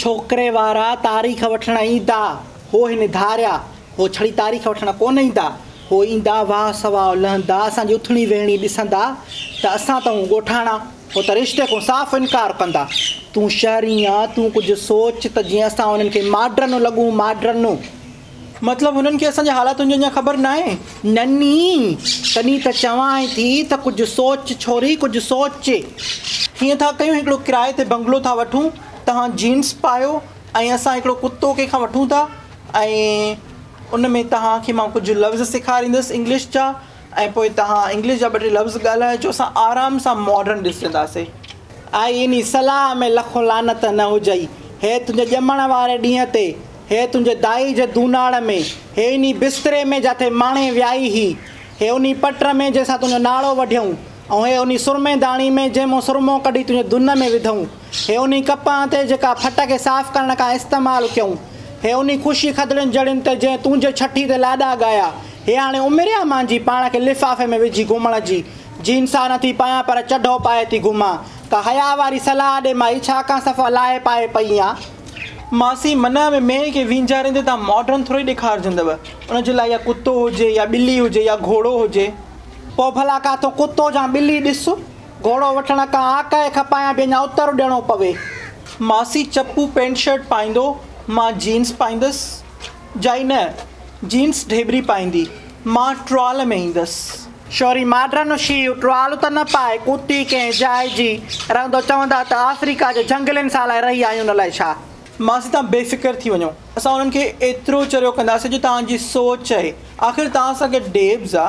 ڇوڪري وارا تاريخ وٺڻ ايندا، هو هن ڌاريا، هو ڇڙي تاريخ وٺڻ ڪونه ايندا، هو ايندا واهه سواء لهندا، اسان جي اٿڻي ويهڻي ڏسندا ته اسان ته هون ڳوٺاڻا، هو ته رشتي کون صاف انڪار ڪندا. تون شهري آن، تون ڪجهه سوچ ته جيئن اسان انهن کي ماڊرنو لڳون، ماڊرنو! مطلب هنن کي اسان جي حالاتن جي اڃا خبر ناهي؟ نني، تڏهن ته چوانء ٿي ته ڪجهه سوچ ڇوري، ڪجهه سوچ. هيئن ٿا ڪيون هڪڙو ڪرائي تي بنگلو ٿا وٺون، توهان جينس پايو ۽ اسان هڪڙو ڪتو ڪنهن کان وٺون ٿا ۽ ان ۾ توهان کي مان ڪجهه لفظ سيکاريندس انگلش جا ۽ پوء توهان انگلش جا ٻه ٽي لفظ ڳالهائجو، اسان آرام سان ماڊرن ڏسنداسين. آء انهي صلاح ۾ لکون لعنت نه هجئي. هيء تنهنجي ڄمڻ واري ڏينهن تي هيء تنهنجي دائي جي دوناڙ ۾، هيء انهي بستري ۾ جاٿي ماڻي ويائي هي، هيء انهي پٽ ۾ جنهن سان تنهنجو ناڙو وڍيئون، ۽ هيء انهي سرمي داڻي ۾ جنهن مان سرمو ڪڍي تنهنجي دن ۾ وڌئون، هيء انهي ڪپهن تي جيڪا ڦٽ کي صاف ڪرڻ ڪانه استعمال ڪيئون، هيء انهي خوشي کدڙين جڙين تي جنهن تنهنجي ڇٺي تي لاڏا ڳايا، هيء هاڻي عمر آ مانجي پاڻ کي لفافي ۾ وجهي گهمڻ جي، جين سا نٿي پايان پر چڍو پائي ٿي گهمان، ڪا حياء واري صلاح ڏي مائي ڇا ڪان صفا لاهي پائي پئي آن. ماسي منهه ۾ مينهن کي وينجهاريندي تان ماڊرن ٿوري ڏيکارجندو ان جي لاء يا ڪتو هجي يا ٻلي هجي يا گهوڙو هجي. پوء ڀلا ڪاٿو ڪتو جا ٻلي ڏس گهوڙو وٺڻ ڪا آڪهه کپايان به اڃا اتر ڏيڻو پوي. ماسي چپو پينٽ شرٽ پائيندو مان جينز پائيندس. جائي نه جينس ڍيبري پائيندي، مان ٽرال ۾ ايندس. شوري ماڊرن شيو ٽرال ته نه پائي، ڪوتي ڪنهن جاء جي رهندو، چوندا ته آفريڪا جي جهنگلين سان لاء رهي آهيون نه لاء ڇا؟ مانس توهان بي فڪر ٿي وڃو، اسان انهن کي ايترو چريو ڪنداسين جو توهان جي سوچ چئي، آخر توهان سان گڏ ڊيبز آ.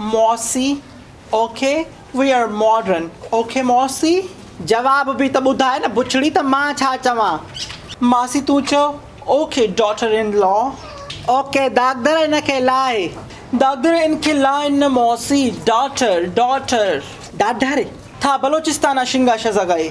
موسي، okay we are modern, okay موسي. جواب به ته ٻڌاء نه بڇڙي ته مان ڇا چوان. ماسي تون چئو، اوڪي ڊاٽر ان لا. اوڪي داغدر ان کي لاء. داغدر ان کي لاء نه موسي، ڊاٽر، ڊاٽر. ڊاڍر، ٿا بلوچستان آ شنگا شزا گائي.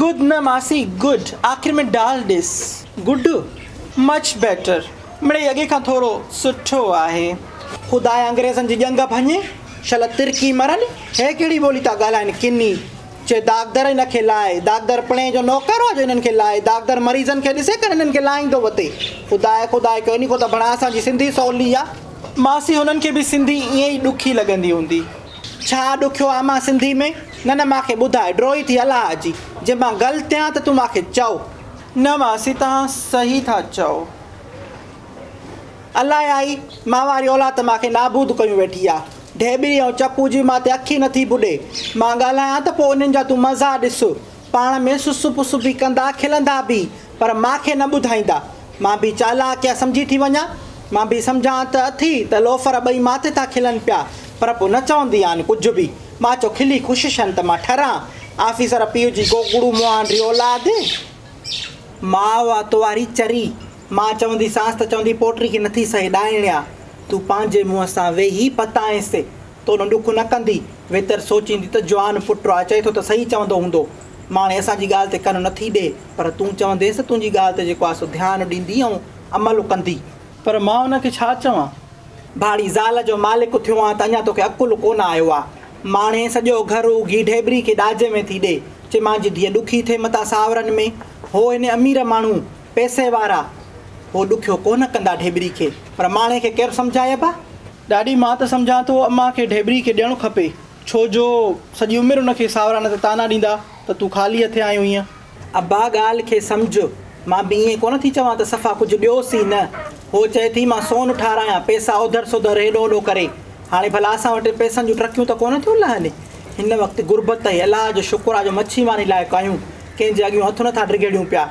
گڊ نه ماسي گڊ آخر ۾ ڊال ڏس. گڊ مچ بيٽر مڙئي اڳي کان ٿورو سٺو آهي. خدايا انگريزن جي ڄنگ ڀڃ شل ترڪي مرن هي ڪهڙي ٻولي ٿا ڳالهائن ڪني چي داغدر هن کي لاء داغدر پڻهي جو نوڪر هو جو هنن کي لاء داغدر مريضن کي ڏسي ڪن هنن کي لاهيندو وتي خدايا خدا هڪ اني کون ته بڻا اسان جي سنڌي سولي آ. ماسي هنن کي به سنڌي ائين ئي ڏکي لڳندي هوندي. ڇا ڏکيو آ مان سنڌي ۾؟ نه نه مان کي ٻڌاء ڊوهي ٿي الله جي جي مان غلط هيان ته تون مان کي چئو. نه ماسي توهان صحيح ٿا چئو. الائي آئي مان واري اولاد ته مان کي نابود ڪيون ويٺي آ ڍيٻري ۽ چپو جي مان تي اک ئي نٿي ٻڏي مان ڳالهايان ته پوء انهن جا تون مزا ڏس. پاڻ ۾ سسو پسو به ڪندا، کلندا به، پر مان کي نه ٻڌائيندا. مان به چالاڪ يا سمجهي ٿي وڃان. مان به سمجهان ته اٿي ته لوفر ٻئي ماٿي ٿا کلن پيا، پر پوء نه چوندي آن ڪجهه به. مان چو کلي خوش شن ته مان ٺران آفيسر پيء جي گوگڙو مهان ري اولاد. ماء تو واري چري. مان چوندي سانس ته چوندي پوٽري کي نٿي سهي ڏائڻيا. تون پنهنجي منهن سان ويهي پتائينس. تون ڏک نه ڪندي؟ ويتر سوچيندي ته جوان پٽ آ، چئي ٿو ته صحيح چوندو هوندو. ماڻي اسان جي ڳالهه تي ڪن نه ٿي ڏي، پر تون چونديس ته تنهنجي ڳالهه تي جيڪو آ سو ڌيان ڏيندي ۽ عمل ڪندي. پر مان ان کي ڇا چوان؟ ڀاڙي زال جو مالڪ ٿيو آن ته اڃا توکي عقل ڪونه آيو آ. ماڻي سڄو گهر اگهي ڍيبري کي ڏاجهه ۾ ٿي ڏي. چي مانجي ڌيء ڏکي ٿئي متان ساورن ۾. هو هن امير ماڻهو، پئسي وارا. هو ڏکيو ڪونه ڪندا ڍيبري کي. پر ماڻي کي ڪير سمجهائي ابا؟ ڏاڏي مان ته سمجهان ٿو امان کي ڍيبري کي ڏيڻو کپي ڇو جو سڄي عمر ان کي ساورا نه ته طعنا ڏيندا ته تون خالي هٿين آئي هئينء. ابا ڳالهه کي سمجهه مان به ائين ڪونه ٿي چوان ته صفا ڪجهه ڏيوس ئي نه هوء چئي ٿي مان سون ٺاراهيان پئسا اوڌر سوڌر هيڏو هوڏو ڪري هاڻي ڀلا اسان وٽ پئسن جون ٽرڪيون ته ڪونه ٿيون لهن هن وقت غربت ۽ الله جو شڪر آ جو مڇي ماني لاء ڪايون ڪنهن جي اڳيون هٿ نه ٿا ڊگهيڙيون پيا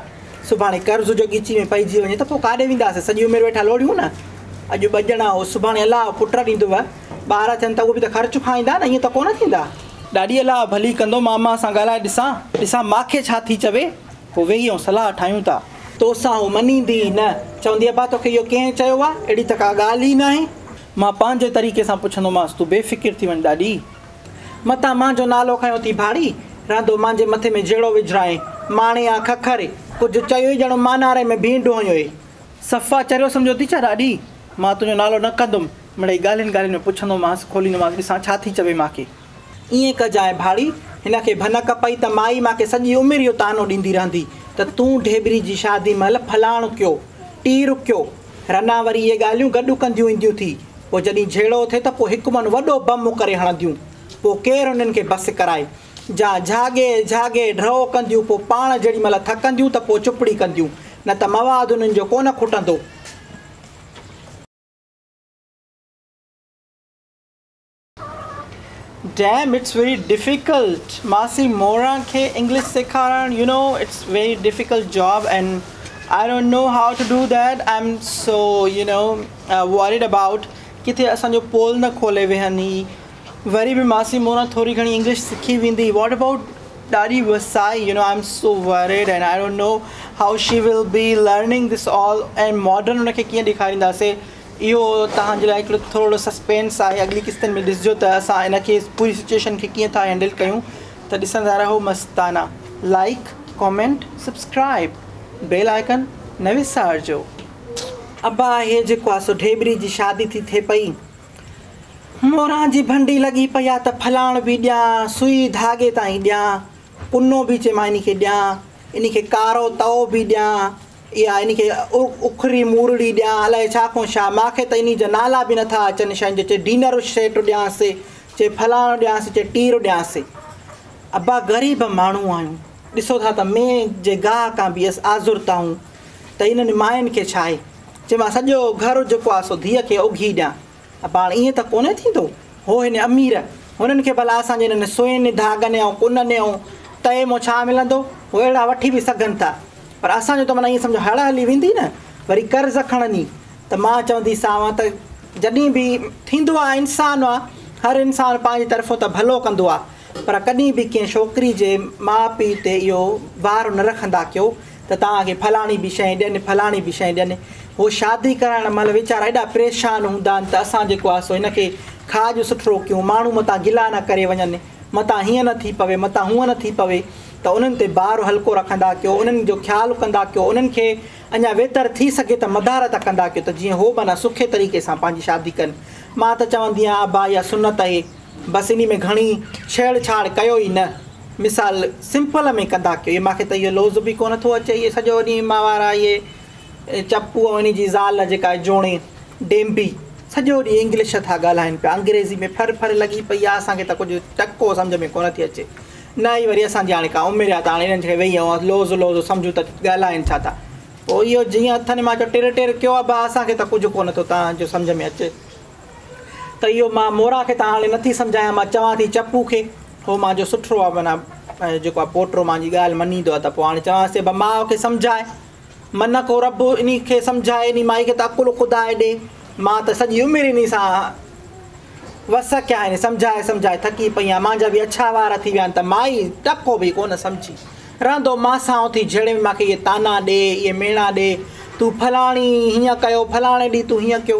سڀاڻي قرض جو ڳچي ۾ پئجي وڃي ته پوء ڪاڏي وينداسين؟ سڄي عمر ويٺا لوڙيون نه. اڄ ٻه ڄڻا او سڀاڻي الله پٽ ڏيندو. ٻار ٿين ته اهي به ته خرچ کائيندا نه، ائين ته ڪونه ٿيندا. ڏاڏي الله ڀلي ڪندو، ماما سان ڳالهائي ڏسان، ڏسان ماکي ڇا ٿي چوي، پوء ويهي آئون صلاح ٺاهيون ٿا. توسان هو مڃيندي ئي نه. چوندي ابا توکي اهو ڪنهن چيو آهي؟ اهڙي ته ڪا ڳالهه ئي ناهي. مان پنهنجي طريقي سان پڇندومانس، تون بي فڪر ٿي وڃ ڏاڏي. متان مانجهو نالو کنيو ٿي ڀاڙي، رهندو مانجهي مٿي ۾ جهيڙو وجهرائين، ماڻي آ ککر، ڪجهه چيو ئي ڄڻو ماناري ۾ ڀينڊ هنيو ئي. صفا چريو سمجهيو ٿي ڇا ڏاڏي، مان تنهنجو نالو نه ڪندم، مڙئي ڳالهين ڳالهين ۾ پڇندومانس، کوليندومانس ڏسان ڇا ٿي چوي مانکي. ائين ڪجانء ڀاڙي، هن کي ڀنڪ پئي ته مائي مانکي سڄي عمر اهو طعنو ڏيندي رهندي ته تون ڍيبري جي شادي مهل فلاڻ ڪيو، ٽير ڪيو، رنا وري اهي ڳالهيون گڏ ڪنديون اينديون ٿي، پوء جڏهين جهيڙو اٿي ته پوء هڪ من وڏو بم ڪري هڻنديون، پوء ڪير انهن کي بس ڪرائي. جا جهاڳي جهاڳي ڊرئو ڪنديون پوء پاڻ جيڏي مهل ٿڪنديون ته پوء چپڙي ڪنديون، نه ته مواد انهن جو ڪونه کٽندو. Damn it's very difficult ماسي موران کي انگلش سيکارڻ you know it's very difficult job and I don't know how to do that I'm so you know worried about ڪٿي اسان جو پول نه کولي ويهن هي وري به ماسي موران ٿوري گهڻي انگلش سکي ويندي what about ڏاڏي وسائي you know I am so worried and I don't know how she will be learning this all and modern ان کي ڪيئن ڏيکارينداسي اهو توهان جي لاء هڪڙو ٿورڙو سسپينس آهي اڳلي قسطن ۾ ڏسجو ته اسان ان کي پوري سچوئيشن کي ڪيئن ٿا هينڊل ڪيون ته ڏسندا رهو مستانه like comment subscribe bell icon نه وسارجو. ابا هي جيڪو آ سو ڍيٻري جي شادي ٿي ٿئي پئي موران جي ڀنڊي لڳي پئي آ ته ڦلاڻ به ڏيان سوئي ڌاڳي تائين ڏيان ڪنو به چي مان انهي کي ڏيان انهي کي ڪارو تئو به ڏيان اها ان کي اکري مورڙي ڏيان الائي ڇا کون ڇا، مان کي ته انهي جا نالا به نٿا اچن شين جو چي ڊينر سيٽ ڏيانس چي فلاڻو ڏيانس چي ٽير ڏيانس. ابا غريب ماڻهو آهيون ڏسو ٿا ته مين جي گاهه کان به اس آزرتائون ته انهن ماين کي ڇا آهي چي مان سڄو گهر جيڪو آهي سو ڌيء کي اگهي ڏيان. پاڻ ائين ته ڪونه ٿيندو هو هن امير هنن کي ڀلا اسان جي انهن سوين ڌاڳن ۽ ڪنن ۽ تئي مان ڇا ملندو هو اهڙا وٺي به سگهن ٿا پر اسان جو ته معنيٰ ائين سمجهو هڙ هلي ويندي نه وري قرض کڻني ته مان چونديسانء ته جڏهن به ٿيندو آ انسان آ هر انسان پنهنجي طرفون ته ڀلو ڪندو آ پر ڪڏهن به ڪنهن ڇوڪري جي ماء پيء تي اهو بار نه رکندا ڪيو ته توهان کي فلاڻي به شيء ڏين، فلاڻي به شيء ڏين. هو شادي ڪرائڻ مهل ويچارا ايڏا پريشان هوندا آهن ته اسان جيڪو آهي سو هن کي کاڄ سٿرو ڪيون، ماڻهو متان گلا نه ڪري وڃن، متان هيئن نه ٿي پوي، متان هونئن نه ٿي پوي ته انهن تي بار هلڪو رکندا ڪيو، انهن جو خيال ڪندا ڪيو، انهن کي اڃا ويتر ٿي سگهي ته مدارت ڪندا ڪيو ته جيئن هو به اڃا سکي طريقي سان پنهنجي شادي ڪن. مان ته چوندي آهيان ابا اها سنت اهي. بس انهي ۾ گهڻي ڇيڙ ڇاڙ ڪيو ئي نه مثال سمپل ۾ ڪندا ڪيو مون کي ته اهو لوظ به ڪو نه ٿو اچي اهي سڄو ڏينهن ماهوار اهي چپو ۽ انهي جي زال جيڪا آهي جوڻي ڊينبي سڄو ڏينهن انگلش ٿا ڳالهائين پيا انگريزي ۾ ڦر ڦر لڳي پئي آهي اسان کي ته ڪجهه ٽڪو سمجهه ۾ ڪونه ٿي اچي نه ئي وري اسان جي هاڻي ڪا عمر آهي ته هاڻي انهن کي ويهي اوهان لوظ لوظ سمجهون ته ڳالهائين ڇا ٿا پوء اهو جيئن اٿن مان چيو ٽر ٽر ڪيو آهي ڀاء اسان کي ته ڪجهه ڪونه ٿو تنهنجو سمجهه ۾ اچي ته اهو مان مورا کي ته هاڻي نٿي سمجهايان، مان چوان ٿي چپو کي، هو مان جو سٺڙو آهي، معنيٰ جيڪو آهي پوٽو مان جي ڳالهه مڃيندو آهي، ته پوء هاڻي چوانس ٿي ڀا ماء کي سمجهاء، منه ڪو رب انهي کي سمجهاء، انهي مائي کي ته عقل خدا ڏي، مان ته سڄي عمر انهي سان وس ڪيا آهن، سمجهائي سمجهائي ٿڪي پئي آهيان، مانجا به اڇا وار ٿي ويا آهن، ته مائي ٽڪو به ڪونه سمجهي، رهندو مان سان اٿي جهيڙي ۾ مان کي اهي طعنا ڏي، اهي ميڻا ڏي، تون فلاڻي هيئن ڪيو، فلاڻي ڏينهن تون هيئن ڪيو.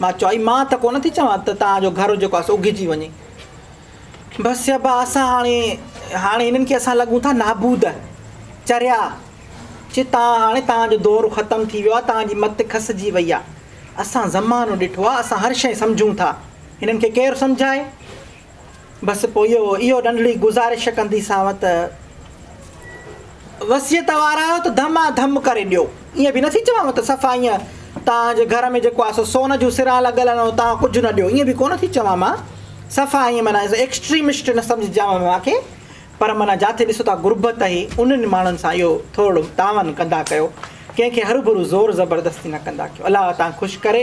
مان چوئي مان ته ڪونه ٿي چوان ته توهان جو گهر جيڪو آهي سو اگهجي وڃي. بس چئبا اسان هاڻي هاڻي هنن کي اسان لڳون ٿا نابود. چريا چي توهان هاڻي توهان جو دور ختم ٿي ويو آهي توهان جي مت کسجي وئي آهي. اسان زمانو ڏٺو آهي اسان هر شيء سمجهون ٿا. هنن کي ڪير سمجهائي. بس پوء اهو ننڍڙي گذارش ڪنديسانء ته وصيت وار آهيو ته ڌما ڌم ڪري ڏيو. ائين به نٿي چوانء ته صفا ائين توهان جي گهر ۾ جيڪو آهي سو سون جون سران لڳل آهن ۽ توهان ڪجهه نه ڏيو. ائين به ڪونه ٿي چوان مان. صفا ائين معنيٰ ايڪسٽريمسٽ نه سمجهجانء ماکي. پر معنيٰ جاٿي ڏسو ٿا غربت هي انهن ماڻهن سان اهو ٿورڙو تعاون ڪندا ڪيو. ڪنهن کي هروڀرو زور زبردستي نه ڪندا ڪيو. الله اوهان کي خوش ڪري.